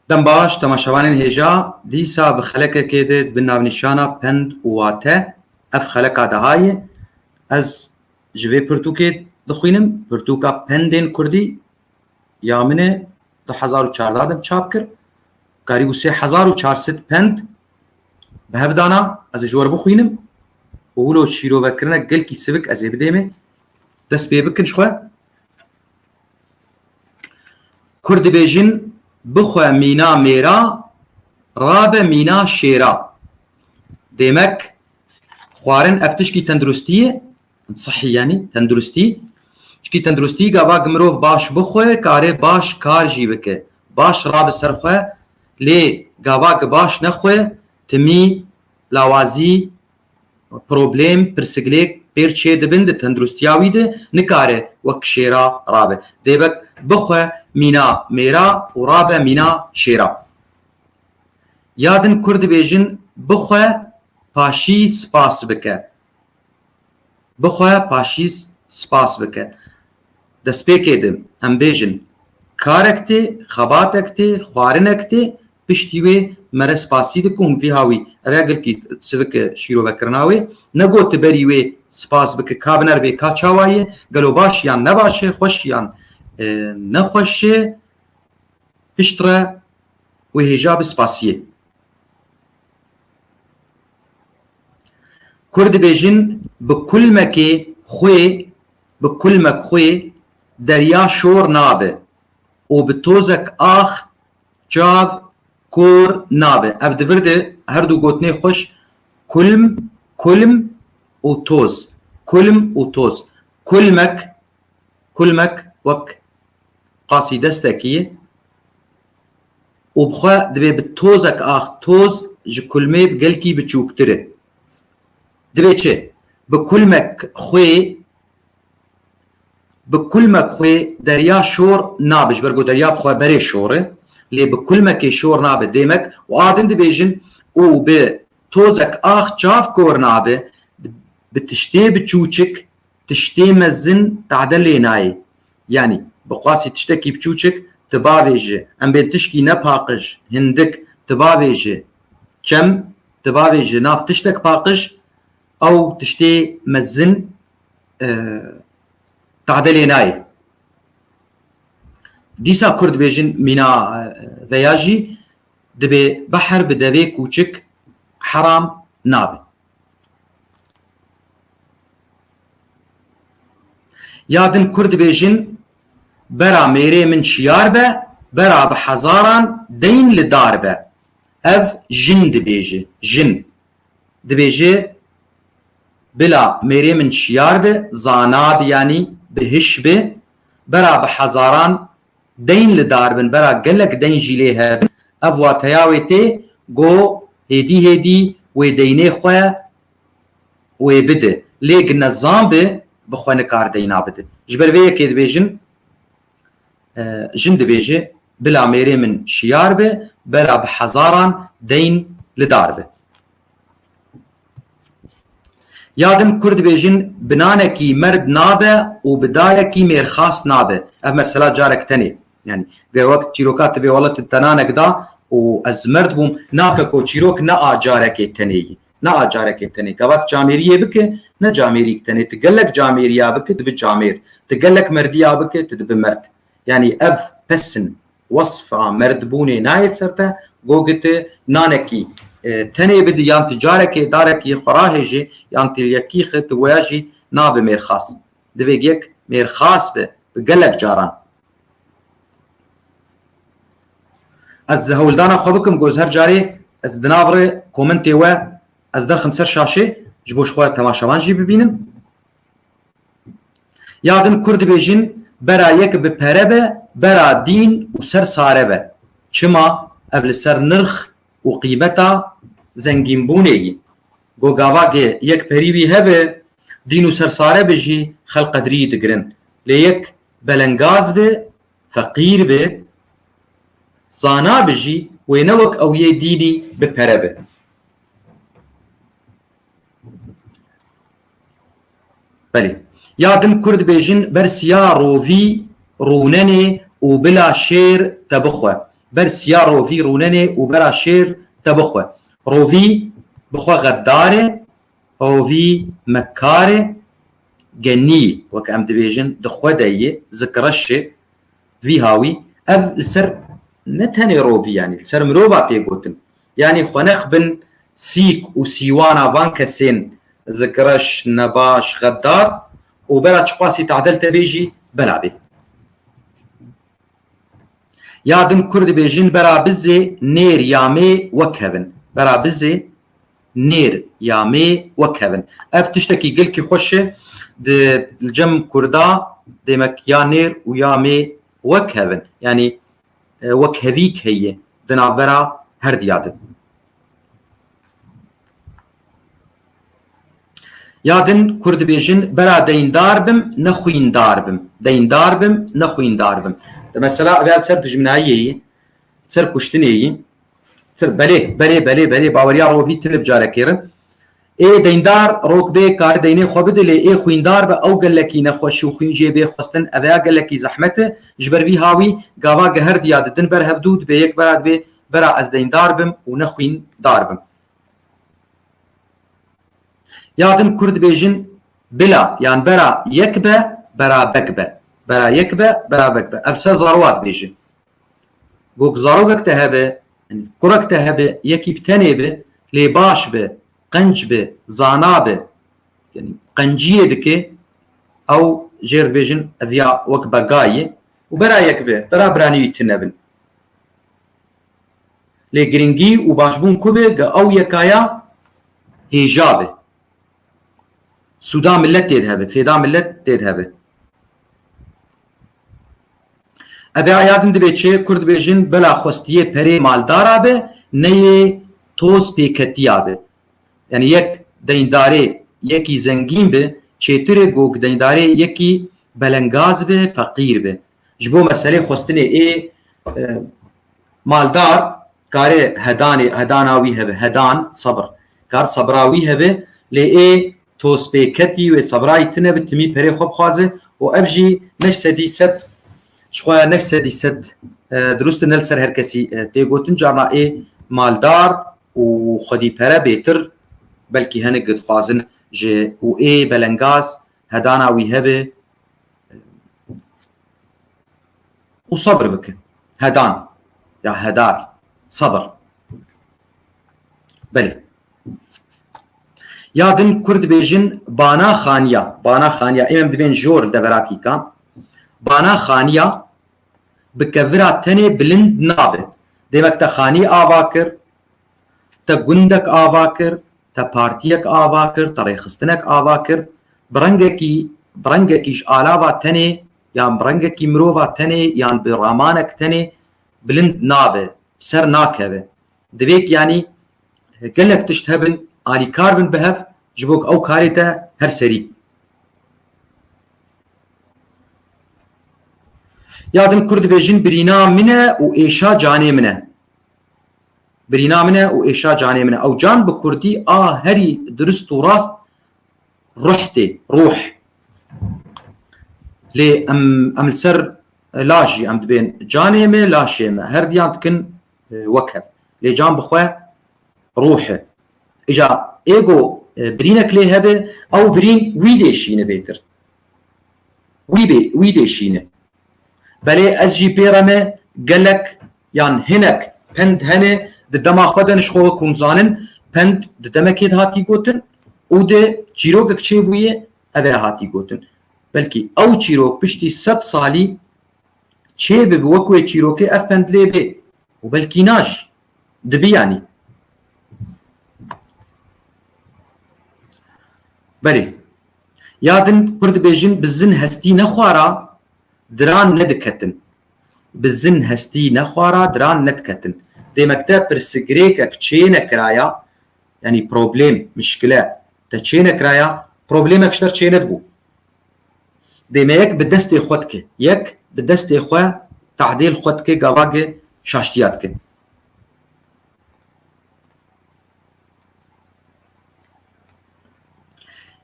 Dem baş temaşevanên hêja dîsa bi xelekekê de bi navnîşana Pend û Wate ev xeleka dahayê ez ji vê pirtûkê dixwînim pirtûka Pendên Kurdî ya min e du hezar û çardeh de çap kir karîbû sê hezar û çar sed pend bi hev dana ez ê ji we re bixwînim û wilo şîrovekirin e gelkî sivik ez ê bidêmê dest pê bikin ji xwe Kurd dibêjin bixwe mîna mêra, rabe mîna şêra. Demek xwarin ev tişkî tenduristî ye, sihî yanî tenduristî. Çikî tenduristî gava ki mirov baş bixwe, karê baş kar jî bike. Baş rabe ser xwe lê gava ki baş nexwe timî, lawazî, Problêm, pirsiglêk pêr çê dibin di tenduristiya wî de nikare wek şêra rabe. Dê be bixwe mîna mêra û rabe mîna şêra. Ya din kurd dibêjin bixwe paşî spas bike. Bixwe paşî spas bike. Destpêkê de em bêjin karek tê, xebatek tê, xwarinek tê Piştî wê mere spasî dikim vîha wî ev gilkî sivik şîrovekirina wê negot tu berî wê spas biki ka biner bê ka çawa ye gelo baş yan ne baş e xweş yan ne xweş e pişt re wê hêja bi spasiyê. Kurd dibêjin bi kulmekê xwê bi kulmek xwê derya şor nabe û bi tozek ax Çav, kor, nabe. Ev di vir de her du gotinê xweş kulm, kulm û toz, kulm û toz. Kulmek, kulmek wek qasî destekî ye û bi xwe dibê bi tozek ax toz ji kulmê bi gelkî biçûktir e. Dibê çi? Bi kulmek xwê. Bi kulmek xwe derya şor nabe, ji ber ku derya bi xwe berê şor e, lê bi kulmekê şor nabe dêmek û a din dibêjin û bi tozek ax çav kor nabe, bi tiştê biçûçik tiştê mezin tade lê nayê. Yanî bi qasî tiştekî biçûçik ti bavêji, em bên tişkî ne paqij, hindik, ti bavêji çem, ti bavêji nav tiştek paqij, Ew tiştê mezin tadilê nayê. Dîsa Kurd bêjin mîna veya jî dibê behr bi devê kûçik heram nabe. Ya din Kurd bêjin bera mêrê min şiyar be, bera bi hezaran deyn li dar be. Ev jin dibêje, jin. dibêje Bila mêrê min şiyar bi, zana bi yanî bi hiş bi, bera bi hezaran deyn li dar bin, bera gelek deyn jî lê hebin, ev wateya wê tê go hêdî hêdî wê deynê xwe wê bidi. Lê ginezan bi, bi xwe nikar deyna bidi. Ji ber vê yekê dibêjin Jin dibêje, Bila mêrê min şiyar be, bela bi hezaran deyn li dar be. Ya din Kurd dibêjin, Bi nanekî merd nabe û bi dayekî mêrxas nabe. Ev mesela carek tenê. Yanî ger wek çîroka tibê wela tu te nanek da û ez merd bûm, nake ku çîrok ne a carekê tenê yî. Ne a carekê tenê gavak camêriyê bike ne camêrîk tenê tu gelek camêriya bike dibi camêr, tu gelek merdiya bike tu dibi merd. Yanî ev pesn wesf a merdbûnê nayê ser te go gi tu nanekî tenê bidi yan tu carekê darekî xwe rahêjê yan tu yekî xi tu weya jî nabi mêrxas. Divê gek mêrxas be bi gelek caran. Ez hewldana xwe bikim goz her carê ez di nav re komentê we ez derxim ser şaşê ji bo xwe temaşevan jî bibînim. Ya din Kurd dibêjin bera yek bi pere be, bera dîn û ser sare be. Çima ev li ser nirx û qîmeta zengînbûnê yî. Go gavagê yek perî wî hebe, dîn û ser sare be jî xelq qedrî digirin. Lê yek Belengaz be, feqîr be, zana be jî wê ne wek ew yê dînî bi pere be. Belê. Ya din kurd bêjin ber siya rovî rûnenê û bila şêr te bixwe. Ber siya rovî rûnenê û bera şêr te bixwe. Rovî bi xwe xeddar e, Hovî me kar e, genî weke em dibêjin di xwe de yê, zikreş e. Vî hawî ev li ser ne tenê rovî yanî li ser mirova tê gotin. Yanî xwe nexibin sîk û sîwana van kesên zikreş, nebaş, xeddar û bera çiqasî tadel te bê jî bela bê. Ya din kurd dibêjin bera bizê nêr ya mê wek kevin. Bera bizê. Nêr ya mê wek hev in. Ev tiştekî gilkî xweş e. Di li cem kurda demek ya nêr û ya mê wek hev in. Yanî wekhevîk heye di navbera her diya de. Ya din kur dibêjin bera deyndar bim ne xwîndar bim. Deyndar bim ne xwîndar bim. Di mesela ev ya li ser dijminayiyê yê, li ser kuştinê yê. Tir, Belê, belê, belê, belê, baweriya rovî tilib care kêrin. Ê deyndar rok bê kari deynê xwe bide lê ê xwîndar be ew gelekî nexweş û xwîn jê bê xwestin eveya gelekî zehmet e. Ji ber vî hawî gava geher diya didin ber hevdu dibê yek bera dibê bera ez deyndar bim û ne xwîn dar bim. Ya din Kurd bêjin bila yan bera yek be bera bek be. Bera yek be bera bek be. Ev se zarwa dibêjin. Gog zarokek te hebe, kurek te hebe, yekî bi tenê be, lê baş be, qenc be, zana be, qenciyê dike, ew jêr dibêjin ev ya wek bega ye. Û bera yek be, bera biranî wî tune bin. Lê giringî û başbûn ku be, ge ew yeka ya hêja be. Suda millet tê dihebi, fêda millet tê dihebi. Evê aya din dibê çê Kurd bêjin bela xwestiyê perê maldara bi neyê toz pêketiya bi. Yani yek deyndarê yekî zengîn bi çêtirê ku deyndarê yekî belengaz bi, feqîr bi. Ji bo meselê xwestinê ê maldar karê hedanê hedana wî hebe, hedan, sebir, kar sebira wî hebe lê ê tozpêketî wê sebirayî tune bi timî perê xwe bixwaze û ev jî ne ji sedî sed ji xwe ne ji sedî sed dirust in ne li ser her kesî tê gotin carna ê maldar û xwedîpere bêtir belkî hinek dixwazin ji û ê belengaz hedana wî hebe û sabr bikin. Hedan ya hedar, sabr. Belê. Ya din Kurd bêjin bana xaniya, bana xaniya, em em dibên jor li devera kîka, bana xaniya bi kevira tenê bilind nabe. Demek te xanî ava kir, Te gundek ava kir, te partiyek ava kir, te rêxistinek ava kir, bi rengekî bi rengekî ji alava tenê yan bi rengekî mirova tenê yan bi ramanek tenê bilind nabe, bi ser nakeve. Divê ku yanî gelek tişt hebin, alîkar bin bi hev ji bo ku ew karê te her serî. Ya din Kurd dibêjin birîna min e û êşa canê min e. Birîna min e û êşa canê min e. Ew can bi kurdî a herî dirust û rast ruh tê, ruh. Lê em em li ser laş jî em dibên canê me, laşê me. Her diyan dikin wek hev. Lê can bi xwe ruh e. Îca ego birînek lê hebe, ew birîn wî dê şîne bêtir. Wî bê wî dê şîne. Belê ez jî pê re me gelek Yan hinek pend hene di dema xwe de nişxo we kum zanin pend di demekê de hatî gotin û di çîrokek çêbûyê ev ê hatî gotin. Belkî ew çîrok piştî sed salî çê bibi wek wê çîrokê ev pend lê bê û belkî na jî dibi yanî. Belê. Ya din kur dibêjin bi zin hestî nexwara diran nediketin. Bi zin hestî nexwara diran nediketin. Dê mekteb pirsigirêkek çêne kiraya, yanî problêm, mişkile, te çêne kiraya, problêmek ji te re çêne dibû. Dê me yek bi destê xwe dike. Yek bi destê xwe tadêl xwe dike gava ge şaştiya dike.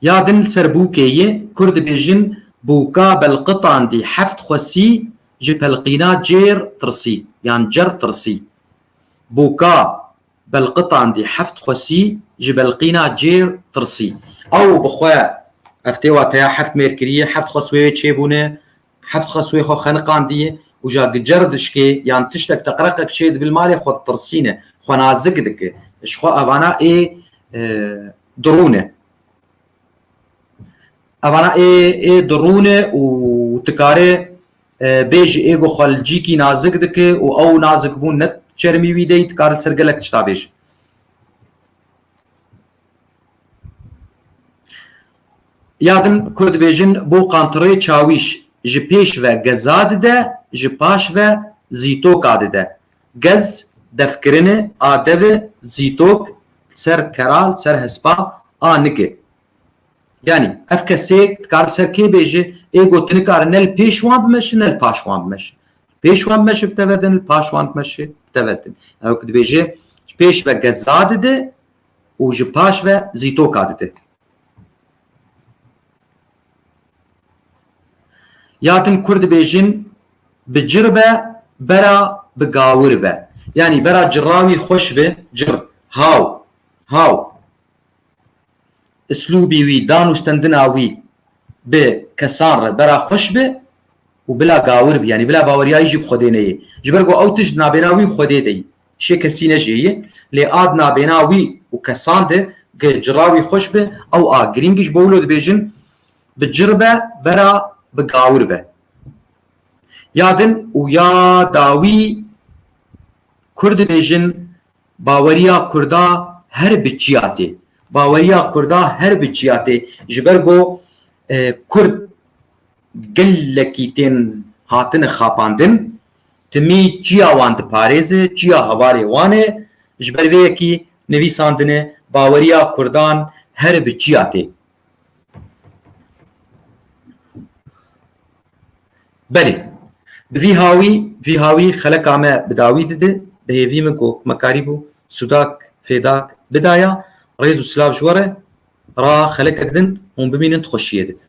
Ya din li ser bûkê yê Kurd dibêjin bûka belqitandî heft xwesî ji pelqîna cêr tirsî yan cer tirsî. Bûka belqitandî heft xwesî ji belqîna cêr tirsî. Ew bi xwe ev têwa teya heft mêr kirî, heft xwes wê wê çêbûne. Heft xesuê xwe xeniqandiye û ja gicer dişkê yan tiştek teqreqek çê dibe li malê xwe ditirsîne, xwenazik dike. Ji xwe evana ê dirûne. Evana ê ê dirûne û tikare bê ji ê ku xwe li cîkî nazik dike û ew nazikbûn ne çermî wî deyî, dikare li ser gelek tişta bêje. Ya din ku dibêjin bo qantirê çawîş ji pêş ve geza dide, ji paş ve zîtoka dide. Gez, devkirinê, a dev e, zîtok, li ser kera, li ser hespa, a nik e. Yanî ev kesêk dikare li ser kê bêje, ê ku tu nikare ne li pêş wan bimeşe ne li paş wan bimeşe. Li pêş wan bimeşe bi teve din, li paş wan bimeşe bi teve din. Ew ku dibêje ji pêş ve geza dide, û ji paş ve zîtoka dide. Ya din kurd dibêjin bi cir be bera bi gawir be. Yanî bera cira wî xweş be, cir, haw, haw. Islûbî wî, danûstendina wî bi kesan re bera xweş be û bila gawir be. Yanî bila baweriyayî jî bi Xwedê neyê. Ji ber ku ew tişt di navbêna wî û Xwedê de yî. Şê kesî nejêyî, lê a di nabêna wî û kesan de ge cira wî xweş bi, ew a girîng ji bo wilo dibêjin, bi cir be vera bi gawir be. Ya din û ya dawî Kurd dibêjin baweriya Kurda her bi çiya tê. Baweriya Kurda her bi çiya tê, ji ber ku Kurd Gelekî tên hatine xapandin, timî çiya wan diparêze, çiya hevalê wan e, ji ber vê yekî nivîsandine baweriya Kurdan her bi çiya tê. Belê, bi vî hawî, vî hawî xeleka me bi dawî dide, bi hêvî min ku hukmekarî bû, sudak, fêdak bidaya, rêz û silav ji we re. Ra xelekek din hûn bimînin ti xweşiyê didin.